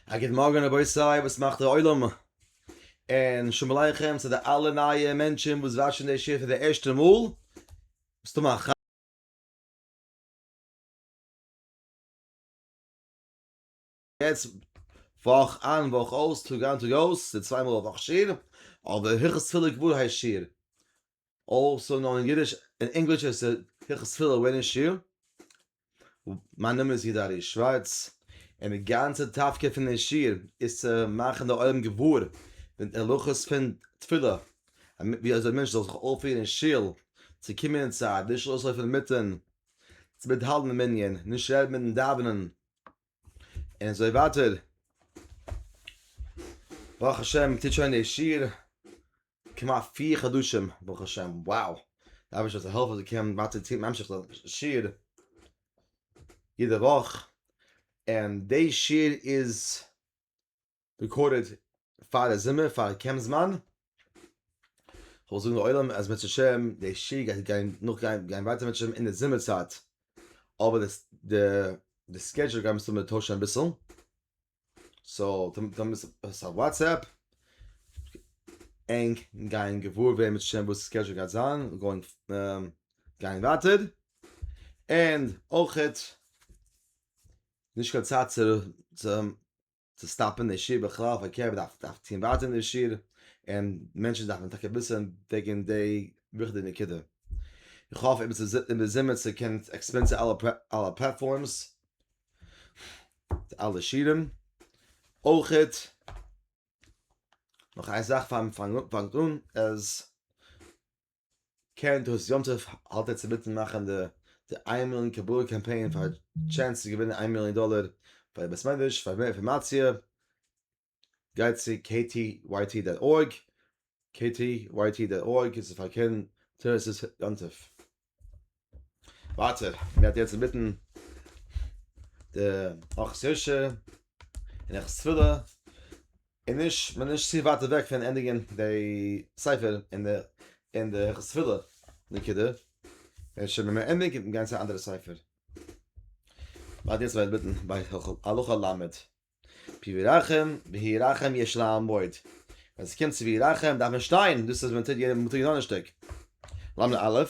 א גוט מארגן רבותי וואס מאכט דער עולם און שלום עליכם צו די אלע נייע מענטשען וואס וואטשען די שיעור פאר די ערשטע מאל מסתם א יעצט וואך איין וואך אויס טאג איין טאג אויס די צוויי מאל א וואך שיעור אבער הלכות תפילה גמור הייסט שיעור אלסא נאר אין אידיש און ענגליש איז עס הלכות תפילה ווען אין שול. מיין נאמען איז יהודה ארי' שווארץ, און די גאנצע תפקיד פון די שיעור איז צו מאכן די עולם געוואר די הלכות פון תפילה, ווי אזוי א מענטש זאל זיך אויפירן אין שול, צו קומען אין צייט, נישט אויסלויפן אינמיטן, צו מיטהאלטן די מנין, נישט רעדן מיטן דאווענען, און אזוי ווייטער. ברוך השם טוט שוין די שיעור כמעט פֿיר חדשים ברוך השם wow די אייבערשטער זאל העלפן אז איך קען ווייטער צי ממשיך זיין שיעור יעדע וואך און די שיעור איז רעקארדעד פאר די זומער פאר קעמפ זמן כ'וועל זאגן לעולם אז בעזהשי ת די שיעור גייט גיין נאך גיין גיין ווייטער בעזהשי ת אין די זומער צייט אבער די סקעדזשול גיימער טוישן אביסל. סאו דעמאלט איז עס א וואטסעפפ, ענק גייען געוואר ווערן בעזהשי ת וואס קשר גייט זיין, גאוינג גייען ווייטער, און אויכעט נישט קיין צייט צו סטאפען די שיעור בכלל פארקערט מען דארף טוהן ווייטער אין די שיעור, און מענטשען דארפען טאקע וויסען וועגען די וויכטיגע נקודה. איך האף איבער זומער צו קענען עקספלעינען צו אלע פלעטפארמס די אלע שירים אויכעט נאך איין זאך פאר מ'פאנג פאנגט אן אז קרן תעוש יום טוב האלט יעצט אינמיטן מאכן די די איין מיליאן קבלה קאמפיין פאר טשענס צו געווינען איין מיליאן דאלער ביי די בית מדרש פאר מער אינפארמאציע גייט צו ktyt דאט ארג, ktyt דאט ארג איז צו פארקערן טערעס'ס יום טוב. ווייטער, מיר האט יעצט אינמיטן די ארחות יושע און ארחות תפילה, און נישט, מ'איז נישט צו ווייט אוועק פון ענדיגן די ספר און די און די ארחות תפילה נקודה, און שוין ווען מ'ענדיגט קען מען גיין צו א אנדערע ספר. מ'האלט יעצט אינמיטן ביי הלכה ל'. פי וירחם, והיא רחם יש לעמוד. ווען ס'קומט צו וירחם דארף מען שטיין, דאס איז ווען מ'טוט יענעם מ'טוט יענעם שטיק. למ א,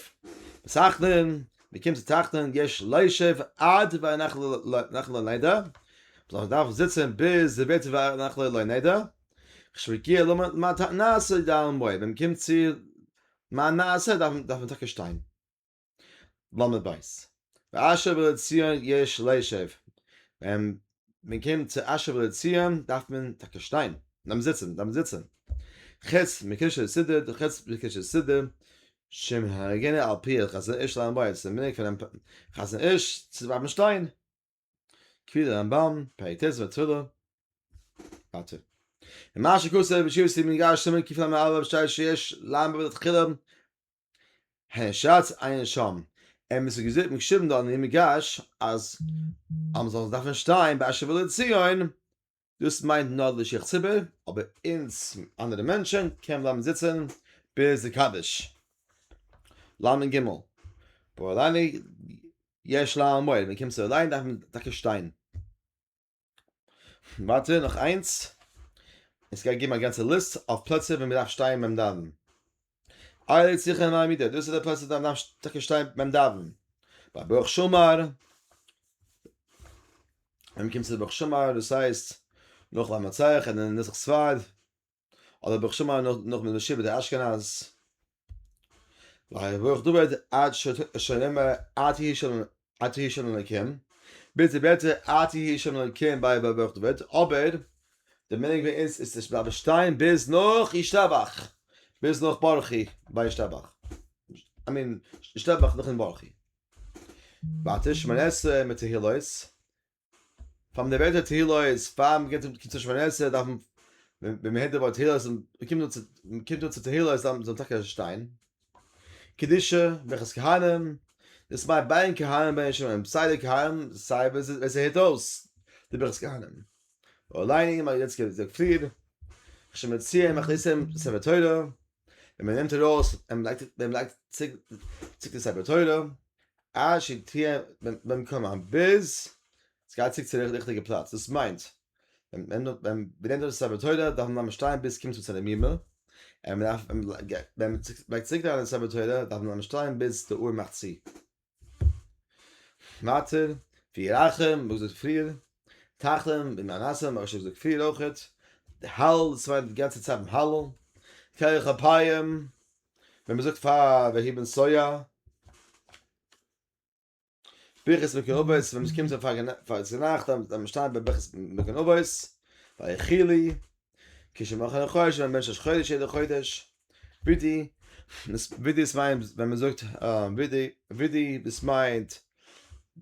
בתחנון, מ'קומט צו תחנון, יש לישב עד והנחל לא נדע, מ'זאל דארפן זיצן ביז ס'ווערט והנחל לא נדע, כשמגיע למען תענית לעמוד, ווען מ'קומט צו מען נעשה דארף מען טאקע שטיין. למה בית? ואשב על הציון יש לישב, ווען מען קומט צו אשב על הציון דארף מען טאקע שטיין, דארף מען זיצן, דארף מען זיצן. חוץ מקושי סידור, חוץ מקושי סידור, שמהגינא על פי חזון איש למה בית, ס'איז די מנהג פונעם חזון איש צו בלייבן שטיין, כפי די רמב ם, פרק ט' מס' תפילה, ווייטער. ומה שכתוב בשיעור סימן ג' סימן קלא א, שטייט שיש למה בית תחילה, הערשאץ עיין שם, און עס איז געזאגט און געשריבן דארט אין מדרש אז אז מ'זאל דארפן שטיין באשר ולא ציון, דאס מיינט נאר די שיך ציבור, אבער אונז אנדערע מענטשן קען מען בלייבן זיצן ביז די קדיש. לנ ג, פאר אליין יש לה מועד, ווען מ'קומט צו אליין דארף מען טאקע שטיין. ווייטער נאך איינס, עס גייט געבן א גאנצע ליסט אויף פלעצער ווי מען דארף שטיין ביים דאווענען, אייל איז זיכער אין א מידה, דאס איז די פלעצער ווי מען דארף טאקע שטיין ביים דאווענען, ביי ברוך שאמר, ווען מען קומט צו ברוך שאמר דאס הייסט נאך למנצח און אין נוסח ספרד. אדער האב איך שוין מאל נאך מיט משיב די אשכנז ווייל איך דובער עד שונמע עד יהי שלום עד יהי שלום אלוקים ביטע ביטע עד יהי שלום אלוקים ביי ביי ברוך דובער אבער די מנהג ביי אונז איז עס בלייבן שטיין ביז נאך ישתבח ביז נאך ברכי ביי ישתבח איי מין ישתבח נאכן ברכי ווייטער שמונה עשרה מיט תהילות פאר מען בעט א תהילה איז פאר מען גייט צום שמונה עשרה דארף מען ווען מען הערט די ווארט תהילה איז מען קומט אן צו מען קומט אן צו תהילה איז דארף מען טאקע שטיין קדישה ברכת כהנים דאס מיינט ביי כהנים ביי שומרים סיי די כהנים סיי ווער ווער ס'הערט אויס די ברכת כהנים און ליינען אים א יעצטיגע פליעד איך שוין מציע אים איך לייג אים ספר תורה. און מען נעמט ארויס און מען לייגט מען לייגט צוריק די ספר תורה עד שתהיה במקומה ביז עס גייט צוריק צו די ריכטיגע פלאץ דאס מיינט ווען מען נעמט ארויס די ספר תורה דארף מען לאזן שטיין ביז עס קומט צו צו די מ מ און מען דארף ווען מען לייגט צוריק די ספר תורה דארף מען לאזן שטיין ביז די אור מאכט צו. מעטר ווי רחם וואס איז פריער תחם ווי מנסה מרשה איז דאך פריער אויכעט די הלל דאס מיינט די גאנצע צייט ביים הלל כח אפיים ווען מען זאגט פאר ויהי בנסוע ברכת מגן אבות ווען מען קומט פאר צו נאכט ווען מען שטייט ביי ברכת מגן אבות ויחי לי כשמחנה חודש ווען מען בענטשט ראש חודש יעדע חודש. ווידי, ווידי עס מיינט ווען מען זאגט ווידי, ווידי דאס מיינט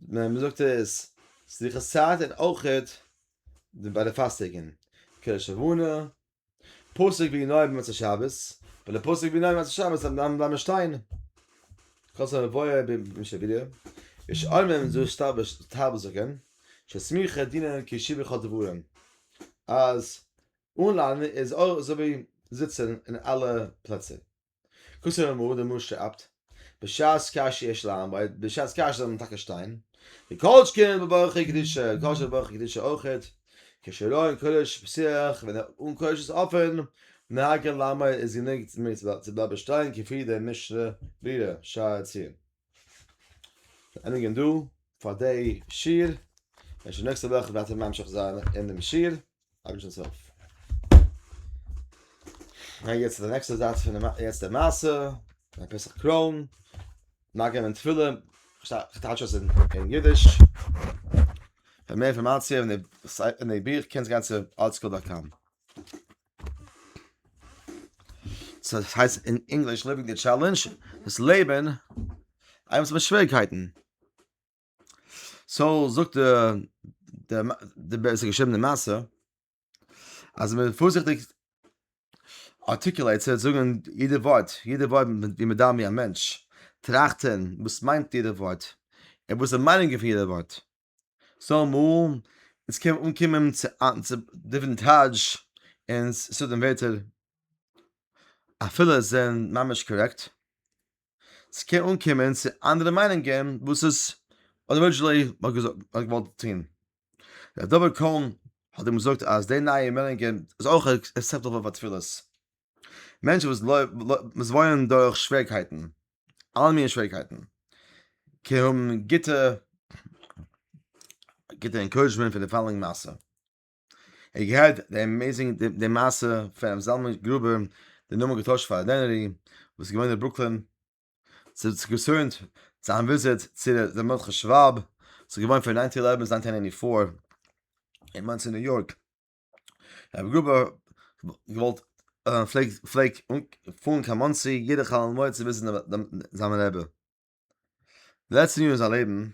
ווען מען זאגט עס סליחות צייט און אויכעט ביי די פאסטעגען, קדוש לבנה, פסוק ווי נאר במוצאי שבת, ביי די פסוק ווי נאר במוצאי שבת דארף מען בלייבן שטיין, כז א מבואר ביים שבילי, יש אומרים זאל שטארבער זאגען, שסמיכה דינן קישיבה כל דברים, אז אן ליינער איז אויך אזוי ווי זיצען אין אלע פלעצער. קוסם אמרו דער משא אבד, בשעת קשיא יש לעמוד, בשעת קשיא זאל מען טאקע שטיין, וכל שכן בברכי קדושה, כל שכן בברכי קדושה אויכעט, כשלא אין קודש פסיח, ווען אן קודש איז אפען, נהגה לעמוד איז גענוג צו בלייבען שטיין, כפי דער משנה ברורה, שער העציון. ענדיגן דא פאר דעי שיעור, און שוין נעקסטע וואך וועט מען ממשיך זיין אינעם שיעור, אקעשנ'ס הויף. גיי יעצט צו די נעקסטע זייט פון די יעצטע מעשה, א פסח קרוין, ניגון און תפילה, כ'טייטש עס אין אידיש, פאר מער אינפארמאציע און די ביך קענסט גיין צו artscroll.com. סאו דאס הייסט אין ענגליש ליווינג די טשעלענדזש דאס לעבן איימס מיט שוועריקייטן סאו זאגט דער דער בעסער געשריבן די מאסע אז מען פארזיכטיג ארטיקולעיט צו זאגן יעדע ווארט יעדע ווארט ווי מען דארף ווי א מענטש טראכטן וואס מיינט יעדע ווארט און וואס איז די מיינונג פון יעדע ווארט סא אמאל אונז קען מען אנקומען צו צו דיפרענט טייטש און ס'דא ווערטער אפילו עס זענען ממש קארעקט, ס'קען אנקומען צו אנדערע מיינונגען וואס עס ארידזשענלי האט געזאגט האט געוואלט טון. די דבר קוים האט אים געזאגט אז די נייע מיינונגען איז אויך עקסעפטעבל פאר תפילות. מענטשן וואס וואס וואוינען דורך שוועריקייטן, אלע מיני שוועריקייטן, קען האבן גוטע גוטע אינקאורעדזשמענט פון די פאלאואינג מעשה. איך געהערט די אמעיזינג די מעשה פון רבי זלמן גרובער, די נאמען געטוישט פאר דענערי, וואס איז געווען אין ברוקלין, ס'האט זיך געצוימט צו איין וויזיט צו רבי מרדכי שוואב, ס'איז געווען פון ניינטין עלעווען צו ניינטין עיטי פאר אין מאנסי ניו יארק. רבי גרובער געוואלט פלעג פלעג פארן קיין מאנסי יעדע חאל מועד צו וויזיטן זיין רבי לעצטע יאר אין זיין לעבן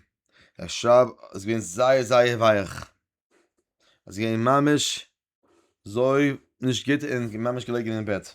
ער שרייב איז געווען זייער זייער ווייעך עס איז געווען ממש זוי נישט גוט און ממש געלעגן אין בעט.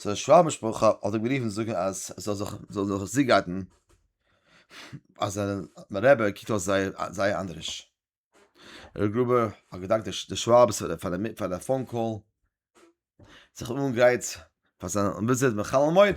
זיין שוואב משפחה האט אים גערופן זאגן אז ער זאל זיך זאל זיך זיגייטן אז זיין רבי קוקט אויס זייער זייער אנדעריש. ר' גרובער האט געדאנקט די שוואב'ס פאר די פאר די פאון קאל, זיך אנגרייט פאר זיין וויזיט בחלומות.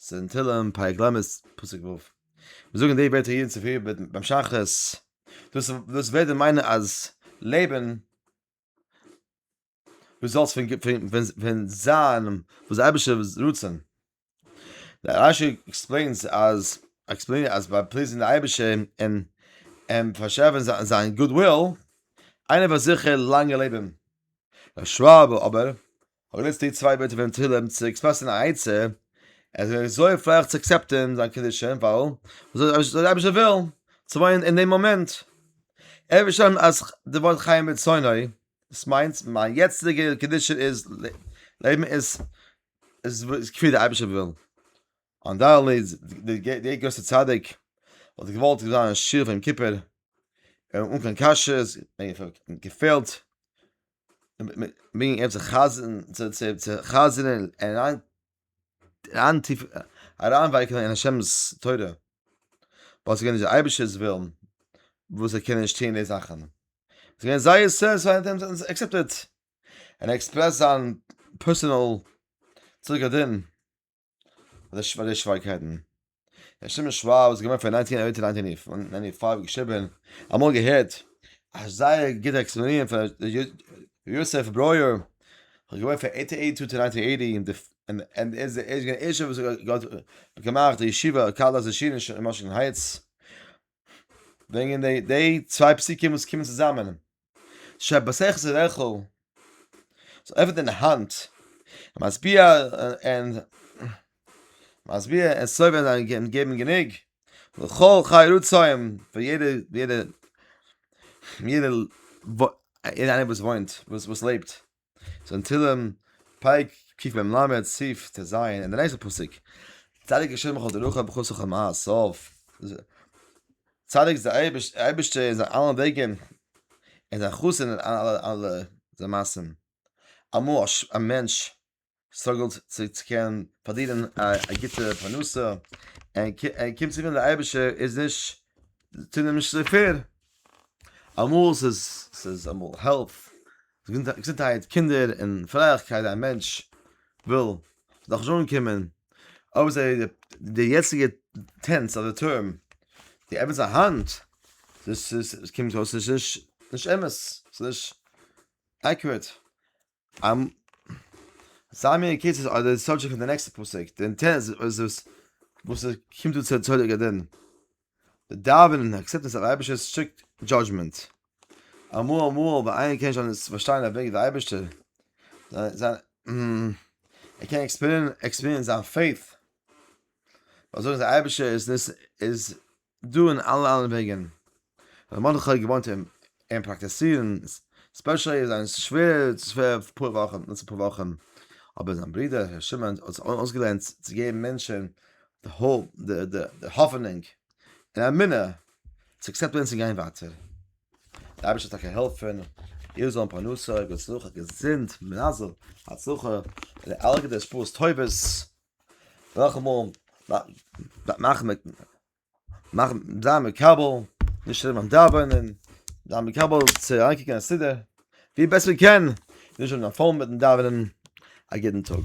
ס'איז אין תהלים, פרק ל', פסוק ו'. מיר זאגן די ווערטער יעדן צופרי ביים שחרית. דאס דאס וועט דען מיינען אז לעבן דו זאלסט פון פון פון פון זיין וואס די אייבערשטער'ס רצון. דער רש י עקספלעינס אז עקספלעינט אז ביי פליזן די אייבערשטער און און פארשעפן זיין גוד וויל, איינער וועט זיכער לאנגע לעבן. ר' שוואב אבער אבער יעצט די צוויי ווערטער פון תהלים צו עקספרעסן א עצה אז ער איז זוכה פלעין צו עקסעפטען זיין קדישים ווייל וואס זאל דער אייבערשטער ווילן? צו וואוינען אין דעם מאמענט. ער וויל שוין אז די ווארט חיים ברצונו דאס מיינט מיין יעצטיגע קדושה איז לעבן איז איז כפי דער אייבערשטער וויל. אנדערלי דער גרויסער צדיק וואלט געוואלט זיין א שיעור פון יום כיפור אן קיין קשיות און געפעלט. מי גייט זיך חזר'ן צו צו צו חזר'ן אריין אריין טיף אריינווייקלען אין השם'ס תורה ווייל ס'גייט נישט די אייבישטער'ס ווילן וואס ער קען נישט טוהן די זאכן עס גייען זייער סעטספייד און עקסעפטעד און עקספרעסט זיין פערסענעל צדקת דין. אדער שווער די שווערקייטן. דער שטימע שוואב איז געווען פון ניינטין אייט און ניינטין פייוו געשריבען, אמאל געהערט א זייער גוטע עקספלאנירן פון ר' יוסף ברויער, ער איז געווען פון אייטין אייטי טו טו ניינטין אייטי און ער איז געווען דער ערשטער וואס האט געמאכט די ישיבה קהלת השין אין וואשינגטאן הייטס, וועגן די צוויי פסוקים וואס קומען צוזאמען. שבסך זה רחל, זיי עפענען האנט, משביע און משביע און סובל זיין און געבן גענוג, לכל חי רצועים, פאר יעדע יעדע יעדע וואס וואס וואס לעבט. ז אין תהילים פרק ק מ ל סי' ט ז אין די נעקסטע פסוק צדיק השם בכל דרכיו בכל סוכיו מעשיו צדיק איז דער אייבערשטער אין זיינע אלע וועגן און זיין חסד אין אלע אלע זיינע מעשים אמאל א מענטש סטראגעלט צו צו קענען פארדינען א גוטע פרנסה, ער קומט צו מיר דער אייבערשטער איז נישט טוט אים נישט צו פעיר, אמאל ס'איז ס'איז אמאל העלף, געזונטהייט, קינדער און פרייליכקייט, א מענטש וויל דאך נישט אנקומען, אויב איז ער די יעצטיגע טענץ אדער טורם די עפענס א האנט, דאס איז קומט אויס נישט נישט אמת, ס'איז נישט עקוראט, אמ. זיי מיר אין קורצן אדער די סאבדזשעקט פון די נעקסטע פסוק, די אינטענס איז עס וואס עס קומט אן צו תולדות גדעון, די דאווענען און עקסעפטענס אויף אייבערשטער'ס סטריקט דזשאדזשמענט. אמאל אמאל ווען איינער קען נישט אלעס פארשטיין אויף וועגן די אייבערשטער, זיין ער קען עקספיריענסן זיין פעיט, ווייל זאגן זיי אייבערשטער איז נישט איז דא אין אלע אלע וועגען האט מרדכי געוואונט אין אין פראקטעסירען ספעשעלי איז זיין שווער פאר פאר וואכען נאך אפאר וואכען אבער זיין ברודער ר' שמעון האט זיך אויסגעלערנט צו געבען מענטשען די האופ די די די האפענונג און אמונה צו עקסעפטען צו גיין ווייטער די אייבערשטער זאל טאקע העלפען איר זאלען פרנסה גוטס נחת געזונט מזל הצלחה און אלע גוטע השפעות טובות. נאכאמאל מאכן מיט מאכן זיין מקבל נישט שרייבן ביים דאווענען זיין מקבל צו אריינקוקן אין סידור ווי בעסט מען קען נישט האבן קיין פאון מיטן דאווענען א גוטן טאג.